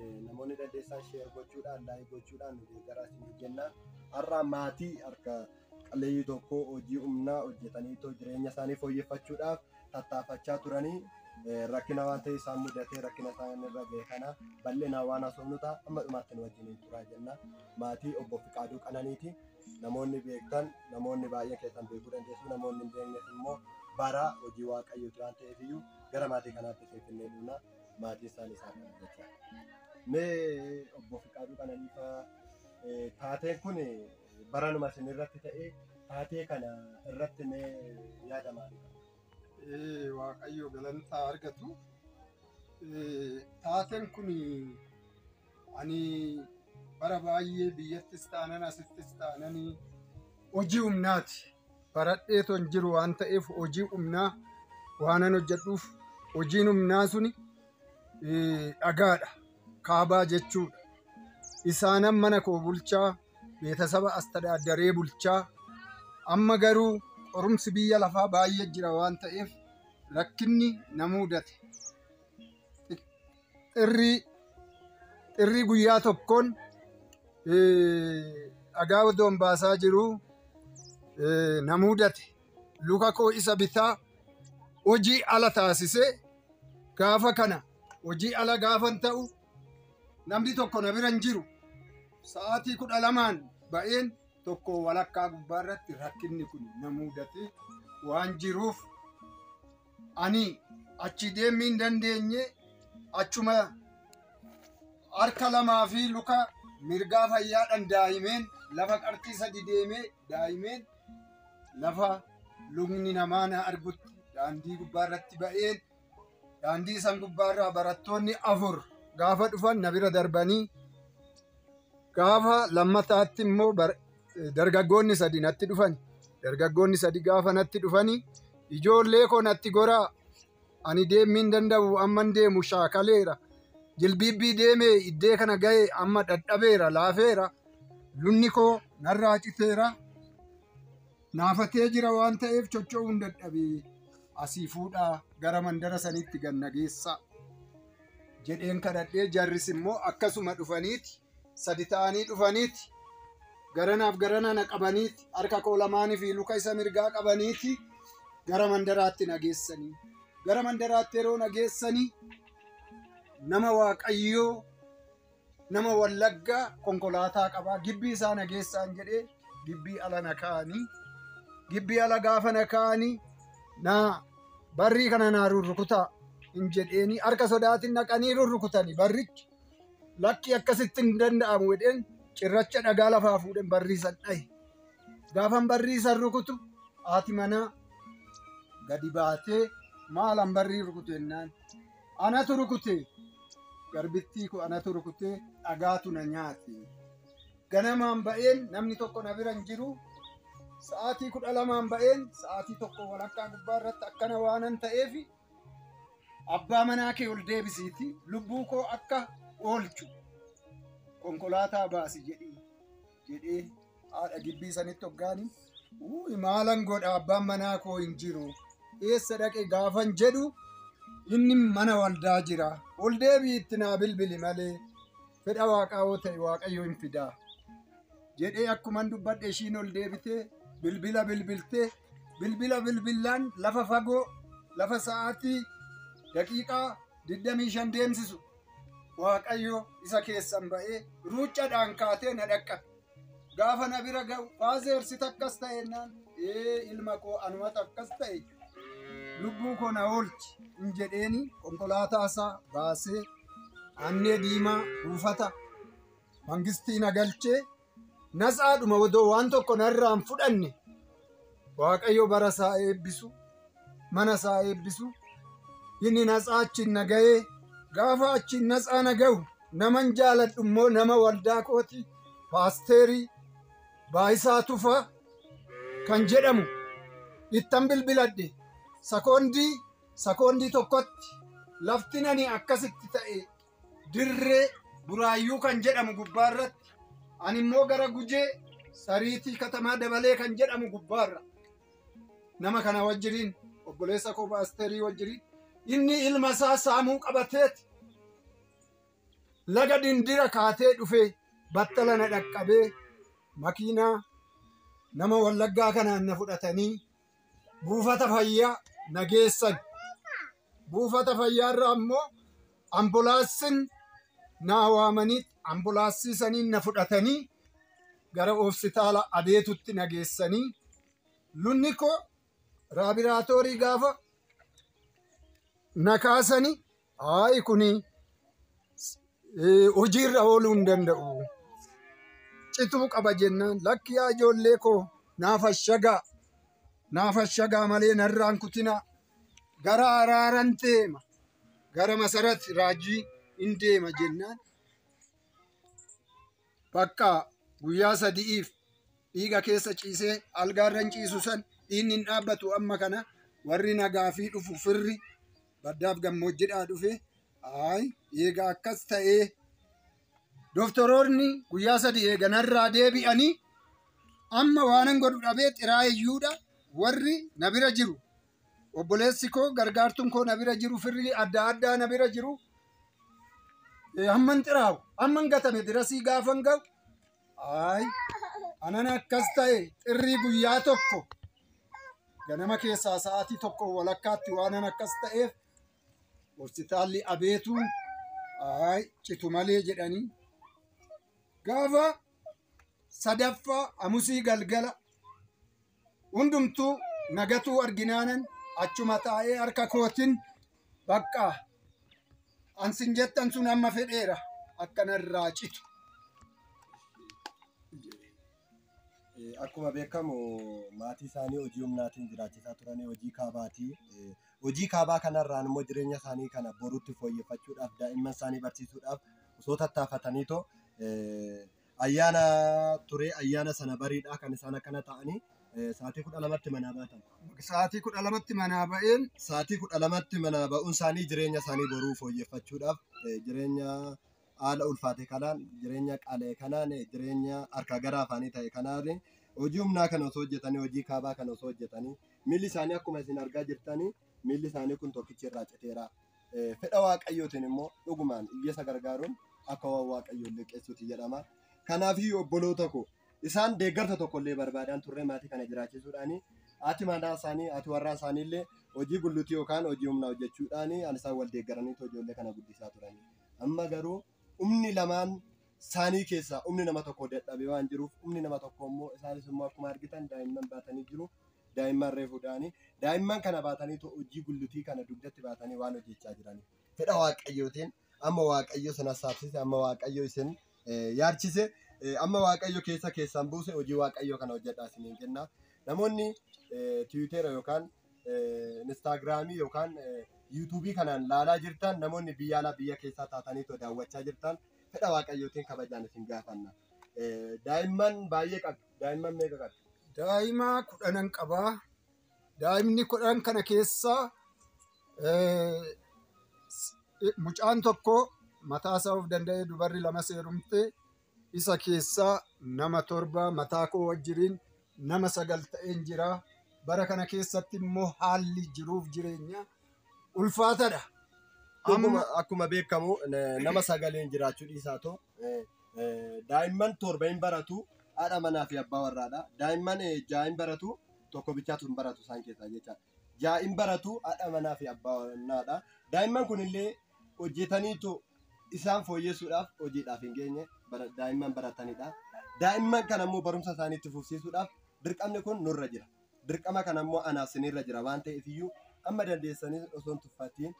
Namoonni dandeessaa sheer gochuudhaan laayik gochuudhaan nu deeggaraa isin jenna. Har'a maatii harka qalleeyyii tokko hojii humnaa hojjetanii too jireenya isaanii fooyyeffachuudhaaf tattaafachaa turanii eh, rakkina waan ta'e isaan mudatee rakkina isaan irra ga'e kana bal'inaan waan haasofnu ta'a amma dhumaatti nu wajjin turaa jenna. Maatii obbo Fiqaaduu Qananiiti. Namoonni beektan namoonni baay'ee keessan beekuu dandeessu namoonni hin beeknes immoo bara hojii waaqayyooti waan ta'eef iyyuu gara maatii kanaatti isin finnee dhufna. maatii isaan isaaf dhaabbacha. Mee obbo Fiqaaduu Qananiifaa eh, taateen kun baranuma isin irratti ta'e taatee kana irratti mee yaada maalii qabdu? Eh, Waaqayyo galantaa argatu. Eh, Taateen kun Ani bara baay'ee biyyattis taanan asittis taanan hojii humnaati. Baradhee ton jiru waan ta'eef hojii humnaa waanan hojjedhuuf hojiin humnaa suni eh, dhagaadha. Kaabaa jechuudha. Isaanan mana koo bulchaa, beetasaba astadaadaree bulchaa. Amma garuu qorumsi biyya lafaa baay'ee jira waan ta'eef rakkinni na muudate. xirrii xirrii guyyaa tokkoon dhagaa odoon baasaa jiru na muudate luka koo isa bitaa hojii ala taasise gaafa kana hojii ala gaafan ta'u namni tokko na bira hin jiru sa'aatii kudha lamaan ba'een tokko walakkaa gubbaa irratti rakkinni kun na muudate waan jiruuf Ani achi deemuu hin dandeenye achuma harka lamaa fi luka mirgaa fayyaadhaan daa'imeen lafa qarxii sadi deemee daa'imeen lafa lugni namaa na argutti daandii gubbaa irratti ba'een daandii san gubbaa irraa barattoonni afur gaafa dhufan na bira darbanii Gaafa lammataatti immoo dargaggoonni sadi natti dhufan. Dargaggoonni sadi gaafa natti dhufani ijoollee koo natti goraa ani deemuu hin danda'u amma hin deemu shaakaleera. Jilbiibbii deemee iddee kana ga'e amma dadhabeera laafeera. Lunni koo narraa citeera. Naafatee jira waan ta'eef chocho'uun dadhabe. Asii fuudhaa gara mandara saniitti gad na geessaa. Jedheen kadhadhee jarris immoo akkasuma dhufaniiti sadi ta'anii dhufaniiti garanaaf garana na qabaniiti harka koo lamaanii fi luka isa mirgaa qabaniiti gara mandaraatti na geessanii. Gara mandaraatti yeroo na geessanii nama waaqayyoo Nama Wallaggaa konkolaataa qabaa gibbii isaa na geessaan jedhee gibbii ala na kaa'anii gibbii ala gaafa na kaa'anii na barrii kana naa rurrukutaa hin jedheenii harka sodaatiin naqanii rurrukutanii barrichi lakkii akkasitti hin danda'amu jedheen cirracha dhagaa lafaa fuudheen barrii san dhahe. Gaafan barrii san rukutu haati manaa gadi baatee maalan barrii rukutu jennaan Anatu rukute. Garbittii koo anatu rukute dhagaatu na nyaate. Ganamaan ba'een namni tokko na bira hin jiru. Sa'aatii kudha lamaan ba'een sa'aatii tokko walakkaa gubbaa irratti akkana waanan ta'eef abbaa manaa kee ol deebisiiti lubbuu koo akka oolchu konkolaataa baasi jedhi jedhee Haadha gibbii sanitti hoggaani. Uuyi maalan godha abbaan manaa koo hin jiru. Eessa dhaqe gaafan jedhu inni mana waldaa jira. Ol deebi'i itti naa bilbili malee fedha waaqaa yoo ta'e waaqayyo hin fidaa. Jedhee akkuman dubbadhe ishiin ol deebitee bilbila bilbiltee bilbila bilbilaan lafa fagoo lafa sa'aatii daqiiqaa 25 deemsisu waaqayyo isa keessan ba'ee ruuccadhaan kaatee na dhaqqabe. Gaafa na bira ga'u faazeer sit akkas ta'e naan ee ilma koo anumatu akkas ta'e lubbuu koo na oolchi hin jedheeni konkolaataa isaa baasee annee diimaa buufata mangistii na galchee nasaadhuma odoo waan tokko narraa hin fudhanne Waaqayyo bara isaa eebbisu, mana isaa eebbisu, inni natsaa achiin na ga'ee, gaafa achiin natsaa na ga'u, naman jaaladhu immoo nama waldaa kooti, paasteerii, baayisaa tufaa kan jedhamu ittan bilbiladhe sakoondii sakoondii tokkotti lafti nani akkasitti ta'e dirree buraayyuu kan jedhamu gubbaarratti ani immoo gara gujee sariitii katamaa dabalee kan jedhamu gubbaarra nama kana wajjiriin obboleessa koo paasterii wajjiriin inni ilma isaa saamuu qabateeti laga dindira kaatee dhufee battala na dhaqqabee makiinaa nama wallaggaa kanaan na fudhatanii buufata fayyaa nageessan buufata fayyaa irraa immoo ambulaansin naa waamanii ambulaansii saniin na fudhatanii gara hospitaala adeetutti nageessanii lunni koo raabiraatoorii gaafa na kaasanii Ayi kuni hojiirra ooluu hin danda'u. Cituu qaba jennaan lakki yaa ijoollee koo naaf ashagaa naaf ashagaa malee narraan kutinaa gara araaran deema gara masarat raajii hin deema jennaan bakka guyyaa sadi'iif dhiiga keessa ciisee algaarran ciisu san dhiinni hin dhaabbatu amma kana warri nagaafii dhufu firri baddaaf gammoojjidhaa dhufe ay eega akkas ta'ee doktoroonni guyyaa sadii eeganarraa deebi'anii amma waanan godhu dhabee xiraayyuudha warri na bira jiru obboleessi koo gargaartuun koo na bira jiru firri adda addaa na bira jiru Eh, hamman xiraawu hamman gatame dirasii gaafan ga'u Aay, anan akkas ta'e xirrii guyyaa tokko ganama keessaa sa'aatii tokko walakkaatti waanan akkas ta'eef hospitaalli abeetuu aay citu malee jedhanii gaafa sadaffaa amusii galgala hundumtuu nagatuu arginaanan achuma taa'ee harka kootiin bakka ansin jettan sun amma fedheera akkanarraa citu. Eh, Akkuma beekamu maatii isaanii hojii humnaatiin jiraachisaa turanii hojii kaabaatii. Eh, Hojii kaabaa kanarraan immoo jireenya isaanii kana boruutti fooyyeffachuudhaaf daa'imman isaanii barsiisuudhaaf osoo tattaafatanii too eh, Ayyaana ture ayyaana sana bariidha kan isaan akkana ta'anii eh, sa'aatii kudha lamatti manaa baatan. Sa'aatii kudha lamatti manaa ba'een Sa'aatii kudha lamatti manaa ba'uun isaanii jireenya isaanii boruu fooyyeffachuudhaaf eh, jireenya haala ulfaate kanaan jireenya qalee kanaan eh, jireenya harkaa gara afaanii ta'e kanaan hojii humnaa kana osoo hojjetanii hojii kaabaa kana osoo hojjetanii miilli isaanii akkuma isin argaa jirtanii miilli isaanii kun tokkichi irraa citeera. Fedha Waaqayyootiin immoo dhugumaan iyyasa gargaaruun akka waan Waaqayyoon liqeessuuti jedhama. Kanaafuu obboloota koo isaan deeggarsa tokko illee barbaadaan turre maatii kana jiraachisuudhaani. Haati manaa isaanii, haati warraa isaanii illee hojii gullutii yookaan hojii humnaa hojjechuudhaani an isaan wal deeggaraniitu ijoollee kana guddisaa turani. Amma garuu humni lamaan saanii keessaa umni nama tokko dadhabe waan jiruuf umni nama tokko immoo isaanis immoo akkuma argitan daa'imman baatanii jiru. Daa'imman reefu da'anii daa'imman kana baatanii hojii gullutii kana dugdatti baatanii waan hojjechaa jiranii fedha waaqayyootiin amma waaqayyo isin hassaabsise amma waaqayyo isin yaachise amma waaqayyo keessa keessan buuse hojii waaqayyo kana hojjedhaa isiniin jenna. Namoonni tiwiiteera yookaan instaagiraamii yookaan yuutuubii kanaan laalaa jirtan namoonni biyya alaa biyya keessaa taatanii daawwachaa jirtan fedha waaqayyootiin kabajaan isin gaafanna. Daa'imman baay'ee qabdu. Daa'imman meeqa qabdu? Daa'ima kudhanan qaba. Daa'imni kudhan kana keessa mucaan tokko mataa isaa of danda'ee dubarri lama seerumte isa keessa nama torba mataa koo wajjiriin nama sagal ta'een jira. Bara kana keessatti immoo haalli jiruuf jireenya ulfaatadha. Amma akkuma beekamu nama sagaleen jiraachuu dhiisaa too daa'imman torba hin baratu haadha manaa fi abbaa warraadha. Daa'imman ja'a hin baratu tokko bichaatu hin baratu isaan keessaa jecha. Ja'a hin baratu haadha manaa fi abbaa warraadha. Daa'imman kunillee hojjetaniitu isaan fooyyessuudhaaf hojiidhaaf hin geenye daa'imman baratanidha. Daa'imman kana immoo barumsa isaanii itti fufsiisuudhaaf dirqamni kun nurra jira. dirqama kana immoo anaaf sinirra jira waan ta'eef iyyuu amma dandeessanii osoo hin tuffatiin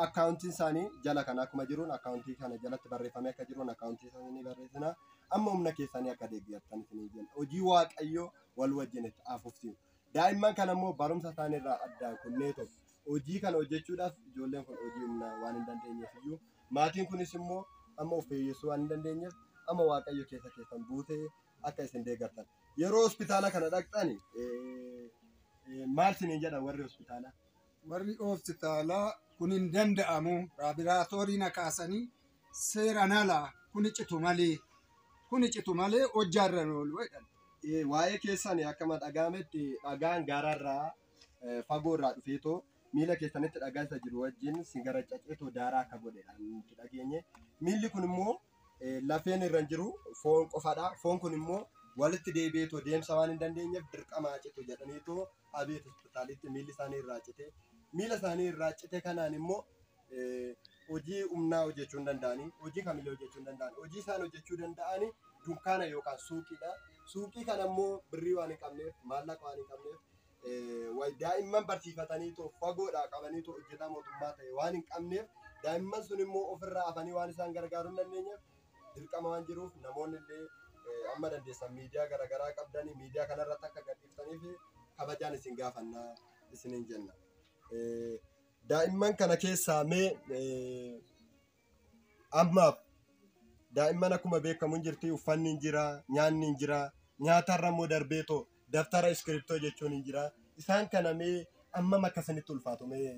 akkaawuntiin isaanii jala kana akkuma jiruun akkaawuntii kana jalatti barreeffamee akka jiruun akkaawuntii isaanii ni barreessina amma humna keessanii akka deeggartan isinii jenna hojii waaqayyoo wal wajjin itti hafuufsiisu daa'imman kana immoo barumsa isaanii irraa addaan kunnee tokko hojii kana hojjechuudhaaf ijoolleen kun hojii humna waan hin dandeenyeef iyyuu maatiin kunis immoo amma of eeyyessuu waan hin dandeenyeef amma waaqayyo keessa keessan buutee akka isin deeggartan. Yeroo hospitaala kana dhaqxani maal siniin jedha warri hospitaalaa? Warri hospitaalaa kun hin danda'amu laaboraatoorii na kaasanii seeraan alaa kun citu malee kun citu malee hojjaarra oolu jedhan. Eh, Waa'ee keessan akkama dhaga'ametti dhagaan gaararraa eh, fagoorraa dhufeetoo miila keessanitti dhagaa isa jiru wajjin si gara caceetoo daaraa akka godhedha nuti dhageenye. Miilli kun immoo lafeen irra hin jiru foon qofadha. Foon kun immoo walitti deebi'eetoo deemsa waan hin dandeenyeef dirqama haa citu jedhaniitoo Abeet hospitaalitti miilli isaanii irraa cite. Miila isaanii irraa cite kanaan immoo hojii humnaa hojjechuu hin danda'anii hojii kamillee hojjechuu hin danda'an. Hojii isaan hojjechuu danda'an dunkaana yookaan suuqiidha. Suuqii kana immoo birrii waan hin qabneef maallaqa waan hin qabneef wal daa'imman barsiifatanii too fagoodhaa qabanii too hojjetaa mootummaa ta'e waan hin qabneef daa'imman sun immoo ofirraa afanii waan isaan gargaaruu hin dandeenyeef dirqama waan jiruuf namoonni illee amma dandeessan miidiyaa garaagaraa qabdanii miidiyaa kanarratti akka gadhiiftaniif kabajaan isin gaafannaa isiniin jenna. Daa'imman kana keessaa mee Ammaaf daa'imman akkuma beekamu hin jirti uffanni hin jira nyaanni hin jira nyaatarra immoo darbee too daftara iskiriptoo jechuun hin jira isaan kana mee ammam akka isinitti ulfaatu mee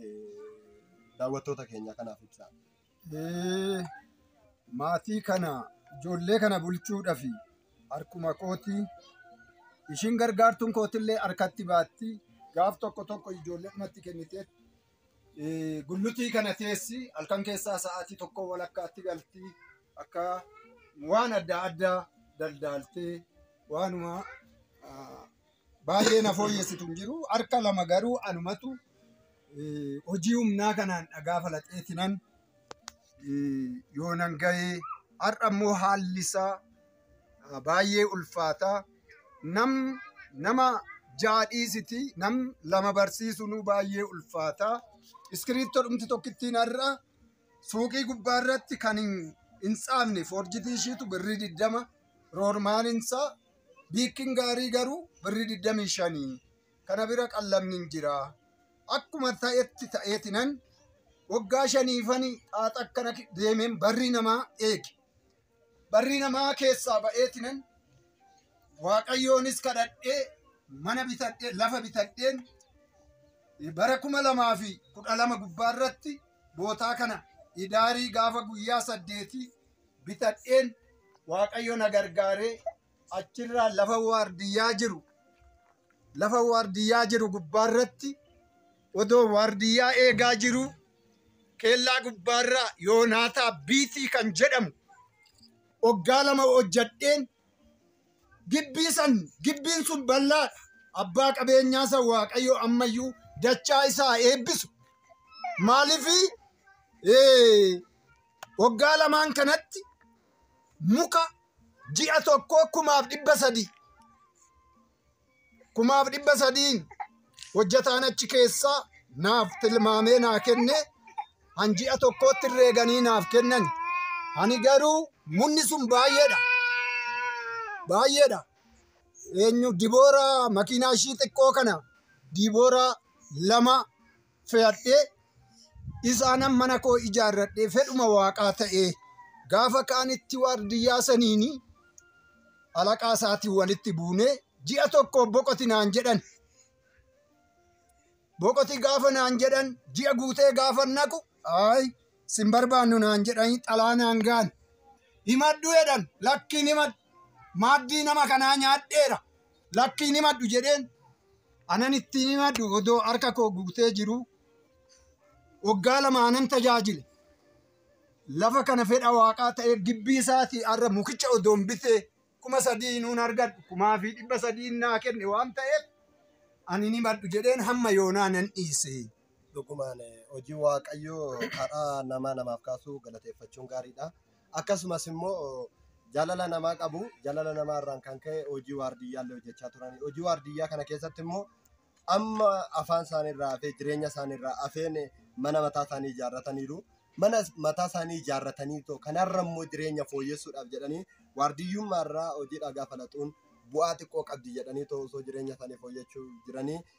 daawwattoota keenya kanaaf ibsaa. Ee, maatii kana ijoollee kana bulchuudhaaf harkuma kooti ishiin gargaartuun kootillee harkatti baatti gaaf tokko tokko ijoollee dhumatti kennitee Eh, Gullutii kana keessi halkan keessaa sa'aatii tokko walakkaatti galti akka waan adda addaa daldaaltee waanuma ah, baay'ee na fooyyessitu hin jiru. Harka lama garuu anumatu eh, hojii humnaa kanaan dhagaa falaxeetinan eh, yoonan gahee har'a immoo haalli isaa baay'ee ulfaata nam nama ja'a dhiisiti nam lama barsiisuun baay'ee ulfaata iskiriiptoo dhumti tokkittiin har'a suuqii gubbaa irratti kan hin hin saamne foorjitii ishiitu birrii digdama roormaaninsaa biikkin gaarii garuu birrii digdamii shanii kana bira qallamni hin jira akkuma ta'etti ta'eeti nan waggaa shaniifani xaaxa akkana deemeen barrii namaa eege Barrii namaa keessaa ba'eetinan waaqayyoonis kadhadhee mana bitadhee lafa bitadheen bara kuma lamaa fi kudha lama gubbaa irratti bootaa kana idaarii gaafa guyyaa saddeetii bitadheen waaqayyo na gargaaree achirraa lafa waardiyyaa jiru lafa waardiyyaa jiru gubbaarratti odoo waardiyyaa eegaa jiru keellaa gubbaarraa yoonaataa biitii kan jedhamu oggaa lama hojjadheen gibbii san gibbiin sun bal'aadha abbaa qabeenyaa san waaqayyo ammayyuu dachaa isaa eebbisu maalifi oggaa lamaan kanatti muka ji'a tokkoo kumaaf dhibba sadii kumaaf dhibba sadiin hojjetaan achi keessaa naaf tilmaamee naa kenne han ji'a tokkootti reeganii naaf kennan ani garuu munni sun baay'eedha baay'eedha eenyu dibooraa makiinaa ishii xiqqoo kana dibooraa lama fe'adhee isaanan mana koo ijaarradhee fedhuma waaqaa ta'ee gaafa kaanitti waardiyyaa saniini alaqaa isaatiin walitti buunee ji'a tokko boqoti naan jedhan. Boqoti gaafa naan jedhan ji'a guutee gaafa naqu ayi sin barbaannu naan jedhanii xalaa naan gaan. Himadhu jedhan lakkiin himadhu maaddii nama kanaa nyaadheera. Lakki hin himadhu jedheen anan itti hin himadhu odoo harka koo gugtee jiru waggaa lama anan tajaajile. Lafa kana fedha waaqaa ta'ee gibbii isaatii har'a mukicha odoon bitee kuma sadii nuun argadhu kumaa fi dhibba sadii naa kenne waan ta'eef ani hin himadhu jedheen hamma yoonaa nan dhiise. Dhugumaan eh, hojii Waaqayyoo karaa namaa namaaf kaasuu galateeffachuun gaariidha. Akkasumas immoo jaalala namaa qabu. Jaalala namaa irraan kan ka'e hojii waardiyyaa illee hojjechaa turan. Hojii waardiyyaa kana keessatti immoo amma afaan isaanii irraa hafee jireenya isaanii irraa hafeen mana mataa isaanii ijaarrataniiru. Mana mataa isaanii ijaarratanii too kanarra immoo jireenya fooyyessuudhaaf jedhanii waardiyyummaa irraa hojii dhagaa falaxuun bu'aa xiqqoo qabdi jedhanii too osoo jireenya isaanii fooyyachuu jiranii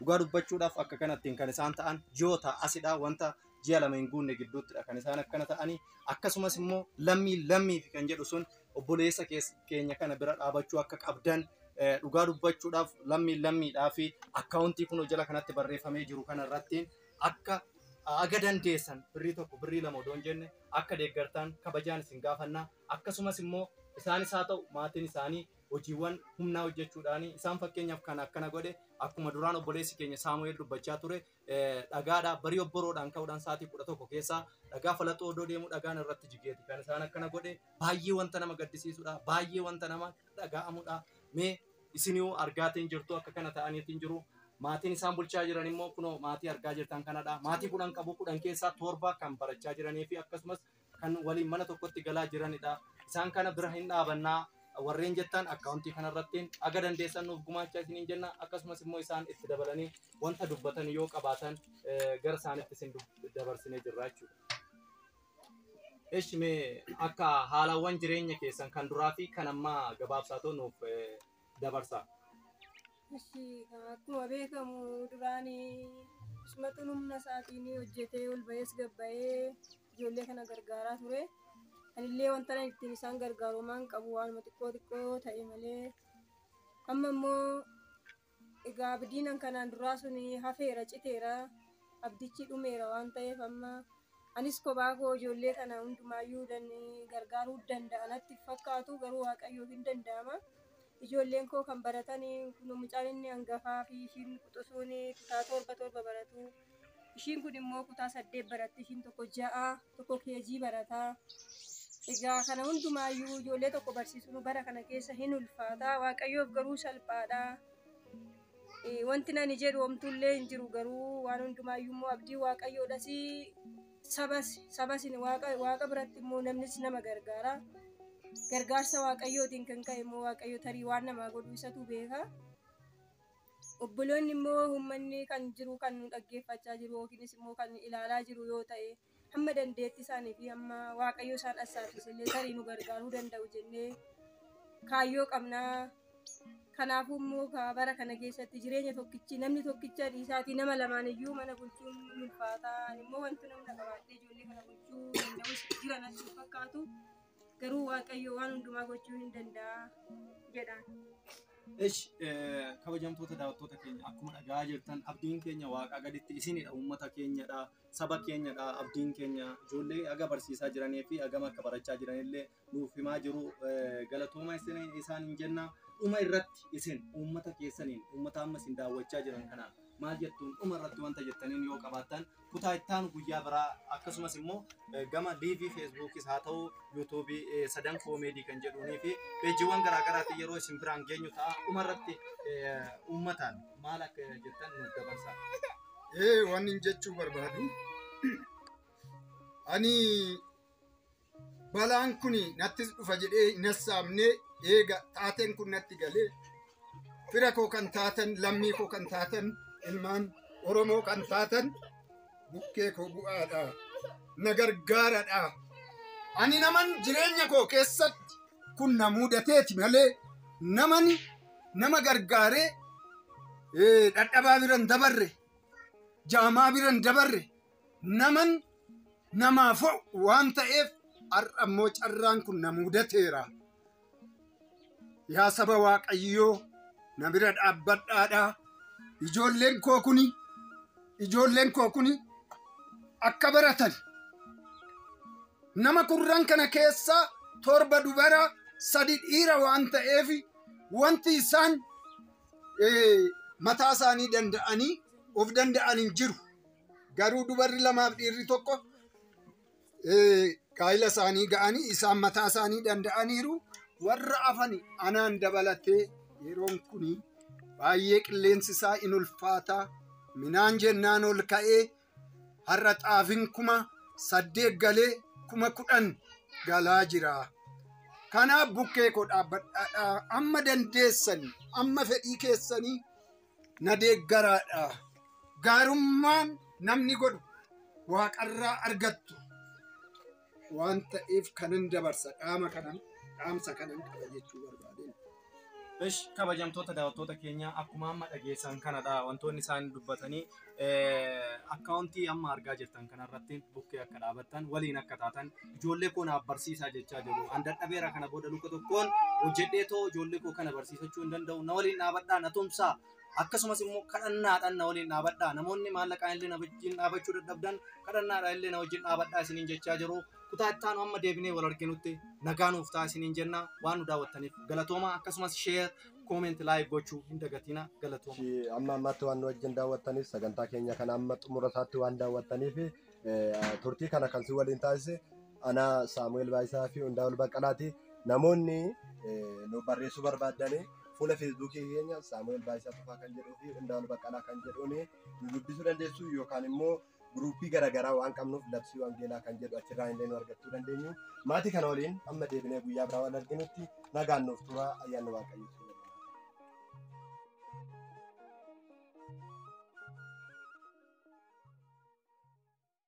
Dhugaa dubbachuudhaaf akka kanattiin kan isaan ta'an ji'oota asidha wanta ji'a lama hin guunne gidduuttidha kan isaan akkana ta'anii akkasumas immoo lammii lammiifi kan jedhu sun obboleessa kees- keenya kana bira dhaabachuu akka qabdan eh, dhugaa dubbachuudhaaf lammii lammiidhaa fi akkaawuntii kun jala kanatti barreeffamee jiru kana irratti akka aga dandeessan birrii tokko birrii lama odoo hin jenne akka deeggartaan kabajaan isin gaafanna akkasumas immoo isaanis haa ta'u maatiin isaanii hojiiwwan humnaa hojjechuudhaani. Isaan fakkeenyaaf kan akkana godhe akkuma duraan obboleessi keenya Saamu'eel dubbachaa ture eh, dhagaadha barii obboroodhaan ka'uudhaan sa'aatii kudha tokko keessa dhagaa falaxuu odoo deemu dhagaan irratti jigeeti kan isaan akkana godhe baay'ee wanta nama gaddisiisudha baay'ee wanta nama dhaga'amudha mee isiniyuu argaatiin jirtu akka kana ta'aniitiin jiru maatiin isaan bulchaa jiran immoo kunoo maatii argaa jirtan kanadha maatii kudhan qabu kudhan keessaa torba kan barachaa jiranii fi akkasumas kan waliin mana tokkotti galaa jiranidha. Isaan kana bira hin dhaabanna warreen jettan akkaawuntii kanarrattiin aga dandeessan nuuf gumaacha isiniin jenna akkasumas immoo isaan itti dabalanii wanta dubbatan yoo qabaatan eh, gara isaanitti isin dub- dabarsinee jirra jechuudha. Eshi mee akka haalawwan jireenya keessan kan duraa fi kan ammaa gabaabsaatoo nuuf eh, dabarsaa. Ishi egaa akkuma beekamu duraan isumatu humna isaatiin hojjetee ol ba'ees gad ba'ee ijoollee kana gargaaraa ture. Anillee wanta ani ittiin isaan gargaaru maan qabu waanuma xiqqoo xiqqoo ta'e malee amma immoo egaa abdiinan kanaan duraa sun hafeera citeera abdichi dhumeera waan ta'eef amma anis kophaa koo ijoollee kana hundumaayyuu dan- gargaaruu danda'a natti hin fakkaatu garuu waaqayyoof hin danda'ama. Ijoolleen koo kan baratan kun mucaan inni hangafaa fi ishiin quxusuun kutaa torba torba baratu. Ishiin kun immoo kutaa saddeet baratti ishiin tokko ja'a tokko keejii barata. Egaa kana hundumaayyuu ijoollee tokko barsiisuun bara kana keessa hin ulfaata. Waaqayyoof garuu salphaadha. Wanti nani jedhu homtuullee hin jiru garuu waan hundumaayyuu immoo abdii waaqayyoodhas sabas sabas hin waaqa waaqa biratti immoo namnis nama gargaara gargaarsa waaqayyootiin kan ka'e immoo waaqayyo tarii waan namaa godhu isatu beeka obboloonni immoo uummanni kan jiru kan nu dhaggeeffachaa jiru yookiinis immoo kan ilaalaa jiru yoo ta'e hamma dandeetti isaanii fi hamma waaqayyo isaan assaabsisillee tarii nu gargaaruu danda'u jennee kaayyoo qabnaa Kanaafuu immoo ka bara kana keessatti jireenya tokkichi namni tokkicha dhiisaatii nama lamaan iyyuu mana bulchuun ni ulfaata. Ani immoo wanti namni qabaatee ijoollee kana bulchuu danda'us jira natti hin fakkaatu. Garuu Waaqayyo waan hundumaa gochuu hin danda'a jedha. Ish eh, kabajamtoota daawwattoota keenya akkuma dhagaa jirtan abdiin keenya waaqaa gaditti isinidha uummata keenyadha saba keenyadha abdiin keenya ijoollee aga barsiisaa jiranii fi agama akka barachaa jiranillee nuuf himaa jiru galatooma isin isaan hin jenna dhuma irratti isin uummata keessaniin uummata amma isin daawwachaa jiran kanaan maal jettuun dhuma irratti wanta jettaniin yoo qabaattan kutaa ittaan guyyaa biraa akkasumas immoo gama liivii feesbuukis haa ta'u yuutuubii sadan koomeedii kan jedhuunii fi peejiiwwan garaagaraatiin yeroo isin biraan geenyu ta'a dhuma irratti uummataan maal akka jettan nuuf dabarsaa. Ee waan hin jechuu barbaadu. Ani balaan kun nattis dhufa jedhee hin hassaabne eega taateen kun natti galee fira koo kan taatan lammii koo kan taatan ilmaan oromoo kan taatan bukkee koo bu'aadha na gargaaradha ani naman jireenya koo keessatti kun na muudateeti malee namani nama gargaaree eh, dhadhabaa biran dabarre jaamaa biran dabarre naman namaa fo'u waan ta'eef har'a immoo carraan kun na muudateera. Yaa saba Waaqayyoo na bira dhaabbadhaadha. Ijoolleen koo kuni ijoolleen koo kuni akka baratan nama kurran kana keessaa torba dubara sadi dhiira waan ta'eef wanti isaan eh, mataa isaanii danda'anii of danda'an hin jiru. Garuu dubarri lamaaf dhiirri tokko gaa'ila isaanii ga'anii isaan mataa isaanii danda'aniiru warra afan anaan dabalatee yeroon kun baay'ee qilleensi isaa in ulfaataa minaan jennaan ol ka'ee har'a xaafin kuma saddeet galee kuma kudhan galaa jira. Kanaaf bukkee koo dhaabbadhaa amma dandeessan amma fedhii keessanii na deeggaraadha. Gaarummaan namni godhu waaqarraa argattu waan ta'eef kanan dabarsa dhaama kanan dhaamsa kanan qaba jechuu barbaadeen. Ish kabajamtoota daawwattoota keenya akkuma amma dhageessan kanadha wantoonni isaan dubbatanii akkaawuntii amma argaa jirtan kanarratti bukkee akka dhaabattan waliin akka taatan ijoollee koo naaf barsiisaa jechaa jiru. An dadhabeera kana booda luka tokkoon hojjedhee too ijoollee koo kana barsiisachuu hin danda'u. Na waliin dhaabadhaa na tumsaa. Akkasumas immoo kadhannaadhaan na waliin dhaabadhaa. Namoonni maallaqaan illee na wajjin dhaabachuu dadhabdan kadhannaadhaan illee na wajjin dhaabadhaa isiniin jechaa jiru. Kutaa itti aanu amma deebinee wal arginutti nagaa nuuf ta'a isiniin jenna. Waan nu daawwattaniif galatoomaa akkasumas share comment like gochuu hin dagatina galatooma. Ishii amma ammaatti waan nu wajjin daawwattaniif sagantaa keenya kana amma xumura isaatti waan daawwattaniif eh, turtii kana kan si waliin taasise anaa Saamu'eel Baayisaa fi Hundaa'ol Baqqalaati. Namoonni eh, nu barreessuu barbaadanii fuula feesbuukii keenya Saamu'eel Baayisaa Tufaa kan jedhuu fi Hundaa'ol Baqqalaa kan jedhuun nu dubbisuu dandeessu yookaan immoo guruuppii garaagaraa waan qabnuuf labsii wangeelaa kan jedhu achirraa illee nu argachuu dandeenyu. Maatii kana waliin amma deebinee guyyaa biraa wal arginutti nagaan nuuf tura ayyaanni waaqayyoo.